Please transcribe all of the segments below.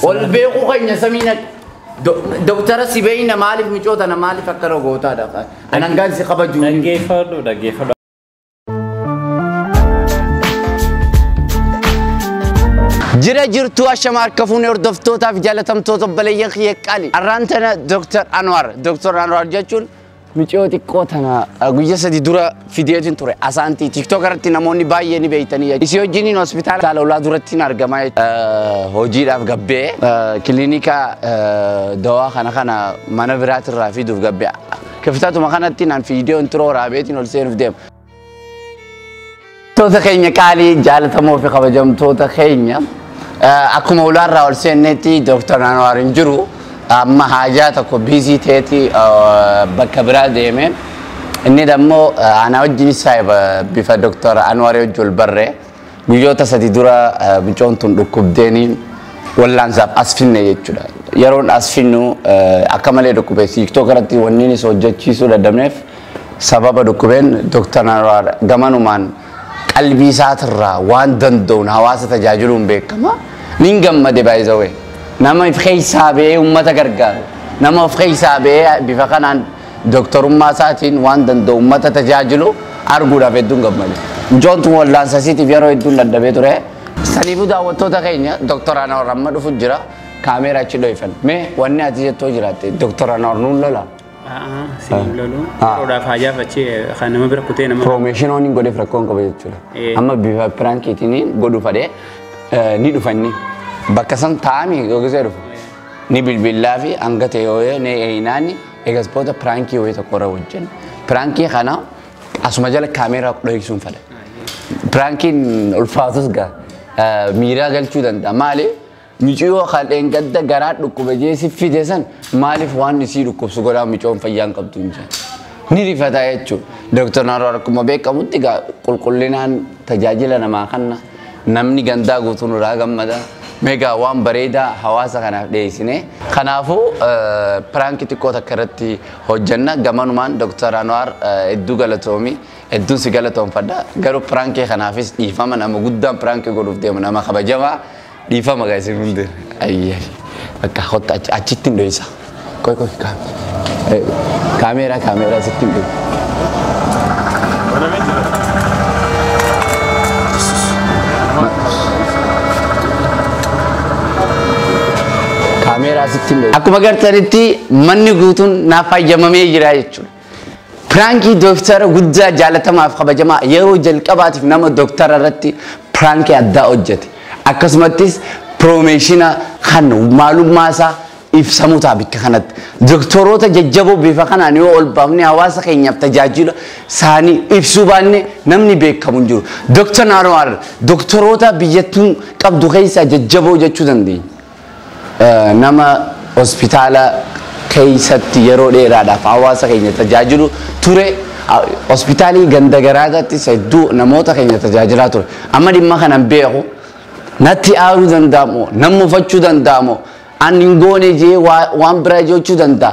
Ol beekuu keenya samiin ati. Doktara si beeyna maaliif micoota na maaliif akkana gootaadha. Anan gaan si kabajuu. Dhaggeeffadhu dhaggeeffadhu. Jira jirtu ashama harka fuunee hordoftootaaf jaalatamtoota obboleeyyan kiyya qaali. Har'aan tana Dr. Anwar. Dr. Anwar jechuun Miciyoo xiqqoo tana eh, guyya sadi dura fideetin ture asaantii tiktok irratti namoonni baay'ee ni beeytanii isii wajjiniin hospitaala taala ulaa durattiin argamaa eh, hojiidhaaf gabbee eh, kilinika eh, dawaa kana kana mana biraatirraa fiduuf gabbee kiftatuma kanatti naan fiidiyoo intiroo raabeetiin ol seenuuf deema. Toota keenya qaalii jaalatamoo fi kabajamtoota keenya eh, akkuma ulaarraa ol seennetti Dooktar Anwaar hin jiru amma haajaa tokko biizii ta'eeti eh, bakka biraa deeme inni dammoo eh, ana wajjin isaa bifa Dooktar Anwaar wajjin ol barree Guyyoota sadi dura mucoon tun dhukkubdeeni wallaansaaf as finne jechuudha. Yeroon as finnu akka malee dhukkube tiiktook irratti wanniinis hojjechiisuu dadhabneef sababa dhukkubeen Dr. Anwaar gamanumaan qalbii isaatirraa waan danda'uun hawaasa tajaajiluun beekama. Nin gammade baay'isawee. Nama if keessaa ba'ee uummata gargaaru. Nama of keessaa ba'ee bifa kanaan Doktorummaa isaatiin waan danda'u ummata tajaajilu arguudhaaf hedduun gammade. Mucoontu wallaansa isiitiif yeroo hedduun dadhabee ture. Saniifuu daawwattoota keenya Doktor Anawar amma dhufu jira. Kaameera achi dho'ifanna. Mee wanni ati jettoo jiraatte Doktor Anawar nuun lola. A'aa, si hin lolu. Ah. Yeroodhaaf haajaaf achi kan nama bira kutee nama. Piroomeeshinii waan hin godheef rakkoo hin qabu jechuudha. Eh. Amma bifa piraankiitiin godhu fadhee eh, ni dhufanni. Bakka san taa'anii yookiis dhufu. Ni bilbillaa fi hanga ta'e yoo ni eeyinaani. Egas booda piraankii wayii tokko irra hojjenne. Piraankii kana asuma jala kaameeraa dhohigsuun fedha. Piraankiin ulfaatus gaa eh, miiraa galchuu danda'a. Maali? Miciyoo kan dheengadda garaa dhukkube jee si fide san maaliif waan isii dhukkubsu godhaa micoon fayyaa hin qabdu hin jenne. Ni rifataa jechuudha. Dooktar Naaroo akkuma beekamutti gaa qulqullinaan tajaajila namaa kanna. Namni gandaa guutuu nurraa gammada. Meegaa waan bareedaa hawaasa kanaaf dhiyeessine. Kanaafuu piraanki xiqqoo takka irratti hojjanna. Gamanumaan Dr. Anwaar hedduu galatoomi. Hedduun si galatoomfadha. Garuu piraankii kanaafis dhiifama nama guddaan piraankii godhuuf deemu nama kabajamaa. Dhiifama gaa isin hundi. Ayyee. Bakka kotta achitti hin dhoysa. Qoy qoy kaameeraa kaameeraa sitti hin dhibu. Kaameeraa sitti hin dhibu. Akkuma gartanitti manni guutuun naaf fayyamamee jira jechuudha. Piraankii dooktara guddaa jaalatamaaf kabajamaa yeroo jalqabaatiif nama dooktara irratti piraankii addaa hojjete. Akkasumattis piroomeeshina kan maalummaa isaa ibsamu ta'a bakka kanatti. Doktoroota jajjaboo bifa kanaan yoo ol baafne hawaasa keenyaaf tajaajila isaanii ibsuu baanne namni beekamu hin jiru. Dooktar Naanoo Harar doktoroota biyyattuun qabdu keessaa jajjaboo jechuu dandeenya. Nama hospitaala keessatti yeroo dheeraadhaaf hawaasa keenya tajaajilu ture. Hospitaalii ganda garaagaatti hedduu namoota keenya tajaajilaa ture. Amma dhimma kana hin beeku. Natti aaruu danda'a moo? Nan mufachuu danda'a moo? An hin goone jee waan biraa jechuu danda'a.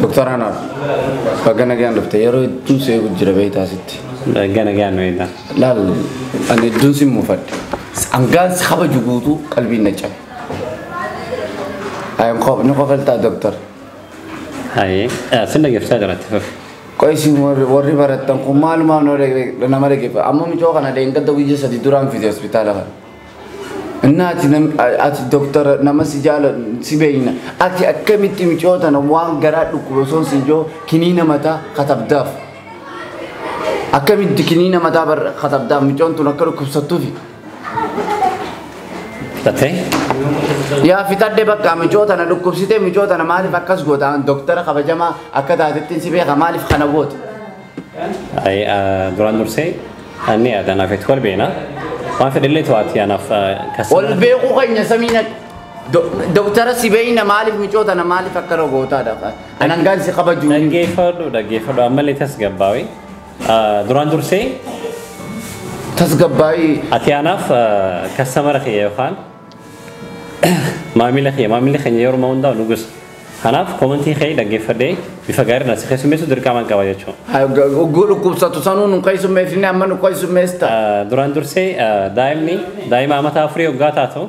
Doktar Anaaf baga nagaan dhufte yeroo hedduun si eegu jira beektaa sitti. Baga nagaan beektaa. Laal ani hedduun si muufadhe. Hangaan si kabaju guutuu qalbiin na cabe. Ay, qof- ni qofaltaa doktor. Haye, eh, sin dhaggeeffataa jira itti fufi. Qoy isin warri warri barattan kun maalumaaf nama dhagge- nama dhaggeeffa. Amma mucoo kana dheengadda guyyaa sadii duraan fide hospitaala kana. Inni ati nam- a- ati doktora nama si jaala si beekna. Ati akkamitti mucoo tana waan garaa dhukkuba osoo si ijoo kiniina mataa katabdaaf. Akkamitti kiniina mataa bar- katabdaaf mucoon tun akka dhukkubsattuufi. Fixattee? Yaa fixadhe bakka micoota na dhukkubsitee micoota na maaliif akkas goota an doktara kabajamaa akka taatettiin si beeka maaliif kana goota. Ay, ah, duraan dursee anni aadan hafetti wal beena. Waan fedhellee to'aatti anaaf kas. Ol beekuu keenya samiina doktara si beeyna maaliif micoota na maaliif akka na gootaadha. An hangaan si kabajuu. Dhaggeeffadhu dhaggeeffadhu ammallee tasgabbaawee. Ah, Duraan dursee Tasgabbaa'ii ati anaaf kastamara kiyya yookaan maamila kiyya maamilli keenya yeroo hundaa nu gosa. Kanaaf komentii kee dhaggeeffadhee bifa gaariidhaan si keessummeessu dirqamaan qaba jechuudha. ogguu dhukkubsatu sanuu nu keessummeessine amma nu keessummeessita. Ah, Duraan dursee ah, daa'imni daa'ima amataa afurii hoggaa taatu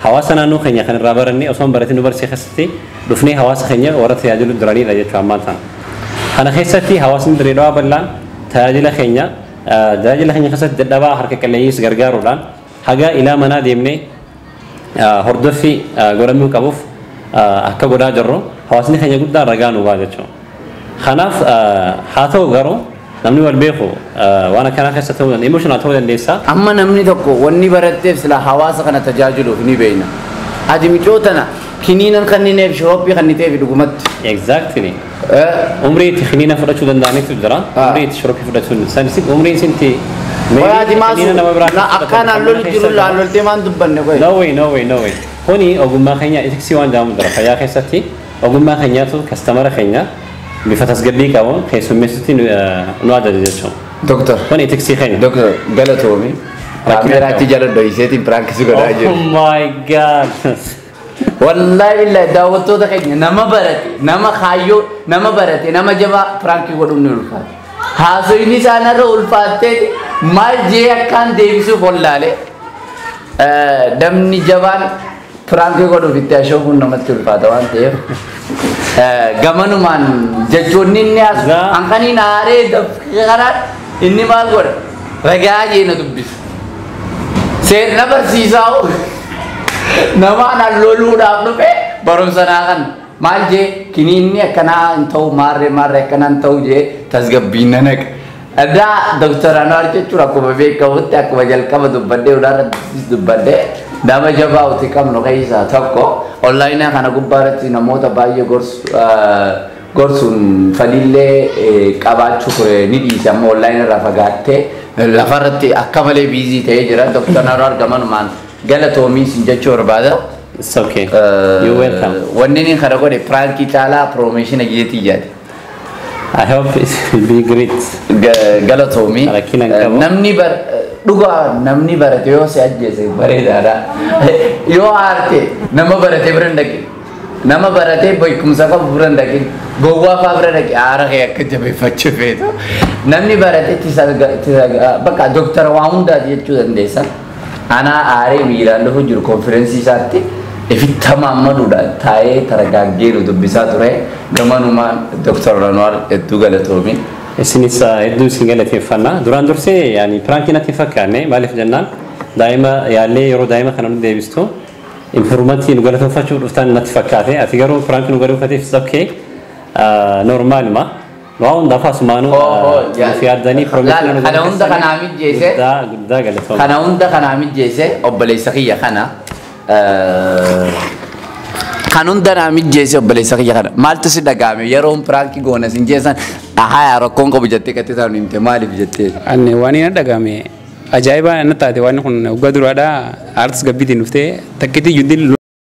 Hawaasa naannoo keenya kan irraa barannee osoo hin baratin nu barsiise keessatti dhufnee hawaasa keenya warra tajaajilu duraniidha jechuu ammaan sana. Kana keessatti hawaasni Dirree Dhawaa bal'aan tajaajila keenya tajaajila keenya keessatti dadhabaa harka qalleeyyiis gargaaruudhaan haga ilaa manaa deemnee hordoffi godhamuu qabuuf akka godhaa jirru hawaasni keenya guddaan ragaa nu ba'a jechuudha. Kanaaf haa ta'u garuu namni wal beeku waan akkanaa keessa ta'uu danda'a. Emotional ta'uu dandeessa. Amma namni tokko wanni baratteef silaa hawaasa kana tajaajiluuf ni beeyna. Ati micoo tana kiniinan kannineef shirooppii kanniteefi dhugumatti. Exactly. Eh, Umrii itti kiniina fudhachuu danda'anitu jira. Ah. Umrii itti shirooppii fudhachuu hin danda'an. Sanis umriin isinti Qoyaa ati maasu kiniina nama biraa na- akka naan loli keessa jiru jira. laan loltee maan dubbanne qoye. No way, no way, no way. Kuni ogummaa keenya etiksii waan jedhamu jira fayyaa keessatti. Ogummaa keenyaatu kastamara keenya bifa tasgabbii qabuun keessummeessutti nu nu ajaja jechuun. Doktar. Kun itiksii keenya. Doktar galatoomi. Kaameeraa achi jala dhohiseetiin piraank si godhaa Oh jiru. my god. Wallaahi billaahi daawwattoota keenya nama barate nama kaayyoo nama barate nama jabaa piraankii godhuun ni ulfaata. Haasoyni isaan irra ulfaattee maal jee akkaan deebisuuf wallaalee. Eh, Namni jabaan Piraankii godhuuf itti ashoofuun namatti ulfaata waan ta'eef eh, gamanumaan jechoonni inni as Gaa. hanqaniin aaree dafqee kanaan inni maal godha ragaa jeena dubbisa. Seerna barsiisaa hoo namaan allooluudhaaf dhufe barumsa naa kan maal jee kiniinni akkanaa hin ta'u maarree maarree akkanaa hin ta'u jee tasgabbiin na naqa. Egaa Dr. Anwaar jechuun akkuma beekamutti akkuma jalqaba dubbadhee hundaarrattis dubbadhee nama jabaa uti qabnu keessaa tokko onlaayinaa kana gubbaarratti namoota baay'ee gorsu gorsuun faliillee qabaachuu ture ni dhiise amma onlaayina irraa fagaattee lafarratti akka malee biizii ta'ee jira Dr. Anwaar gamanumaan galatoomiis hin jechuu barbaada. It's okay. You're welcome. Wanni inni kana godhe piraankii caalaa piroomeeshina jeetii jedhe. I hope it will be great. Ga- galatoomi Rakkina hin qabu. namni bar dhugaa namni barate yoo si ajjeese bareedaadha yoo aarte nama barate bira hin dhaqin nama barate beekumsa qabu bira hin dhaqin gowwaa faa bira dhaqi aara kee akka jabeeffachuu feetu namni barate tisa bakka doktara waa hundaati jechuu dandeessa Anaa aaree miiraan lufuu jiru konfirensii isaatti ifitta maammaduudhaan taa'ee taragaaggee nu dubbisaa ture. Gamanumaan Dr. Anwaar hedduu galatoomi. Isinis hedduu isin galateeffanna. Duraan dursee yaani piraankii natti hin fakkaanne maaliif jennaan daa'ima yaallee yeroo daa'ima kana nu deebistu impiruumantii nu galatooffachuuf dhuftan natti fakkaate ati garuu piraankii nu galatooffateef it's okay normaaluma. Waa hundaaf asumaanuu Oo, oo, nuuf jaalladha. yaaddanii Laal, piroomiisii nu kana hunda kanaa mijjeesse. Guddaa guddaa galatooma. kana hunda kanaa mijjeesse obboleessa kiyya kana eh, kan hunda naa mijjeesse obboleessa kiyya kana maaltu si dhaga'ame yeroon piraankii goona sin jeessan haya rakkoon qabu jettee qattee taa'u himte maaliif jettee Ani waan hin dhagahame ajaa'ibaa na taate waan kun waggaa duraadhaa aartis gabbiitiin dhuftee takkitii juddin